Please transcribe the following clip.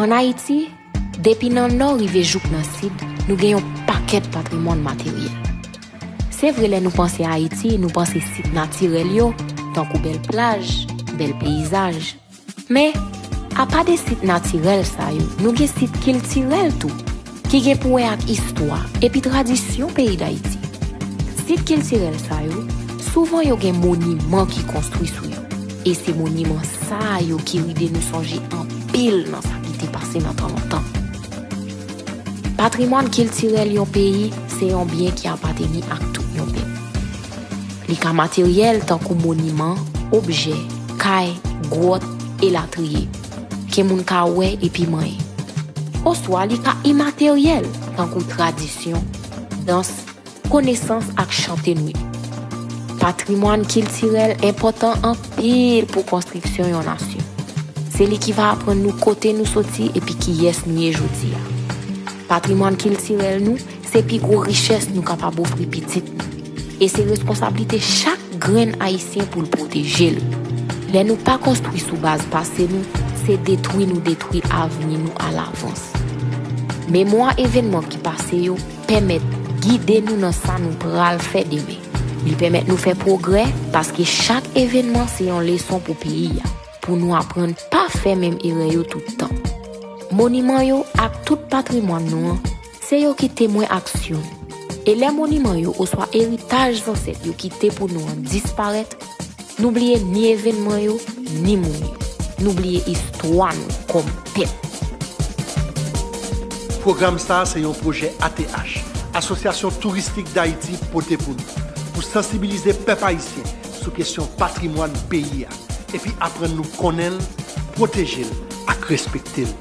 An Ayiti, depi nan nò rive jouk nan sid, nou gen yon pakèt patrimwàn materyèl. Se vre lè nou panse Ayiti, nou panse sit natirèl yo, tankou bèl plaj, bèl peyizaj. Men, apa de sit natirèl sa yo, nou gen sit kiltirèl tou, ki gen pou wè ak istwa epi tradisyon peyi Dayiti. Sit kiltirèl sa yo, souvan yo gen moniman ki konstwi sou yo, e se moniman sa yo ki ride nou sonje anpil nan sa ki te pase nan tan lontan. Patrimwàn kiltirèl yon peyi se yon byen ki apateni ak tout yon pèp. Li ka materyèl tankou moniman, objè, kay, gwòt, elatriye, ke moun ka wè epi manyen. Oswa li ka imateryèl tankou tradisyon, dans, konesans ak chante nou yo. Patrimwàn kiltirèl enpòtan anpil pou konstriksyon yon nasyon. Se li ki va aprann nou kote nou soti epi kiyès nou ye jodi a. Patrimwàn kiltirèl nou Se pi gwo richès nou kapab ofri pitit nou, e se responsablite chak grenn Ayisyen pou l pwoteje l. Lè nou pa konstwi sou baz pase nou, se detwi nou detwi avni nou alavans. Memwa evenman ki pase yo pèmèt gide nou nan sa nou pral fè demen. Li pèmèt nou fè pwogrè, paske chak evenman se yon leson pou peyi a, pou nou aprann pa fè menm erè yo tout tan. Moniman yo ak tout patrimwàn nou an Se yo ki temwen aksyon nou. E lè moniman yo oswa eritaj zansèt yo kite pou nou an disparèt, nou bliye ni evènman yo, ni moun yo. Nou bliye istwa nou kòm pèp. Pwogram sa a se yon pwojè ATH, Asosyasyon Touristik Dayiti, pote pou nou, pou sansibilize pèp ayisyen sou kesyon patrimwàn peyi a, epi aprann nou konnen l, pwoteje l ak respekte l.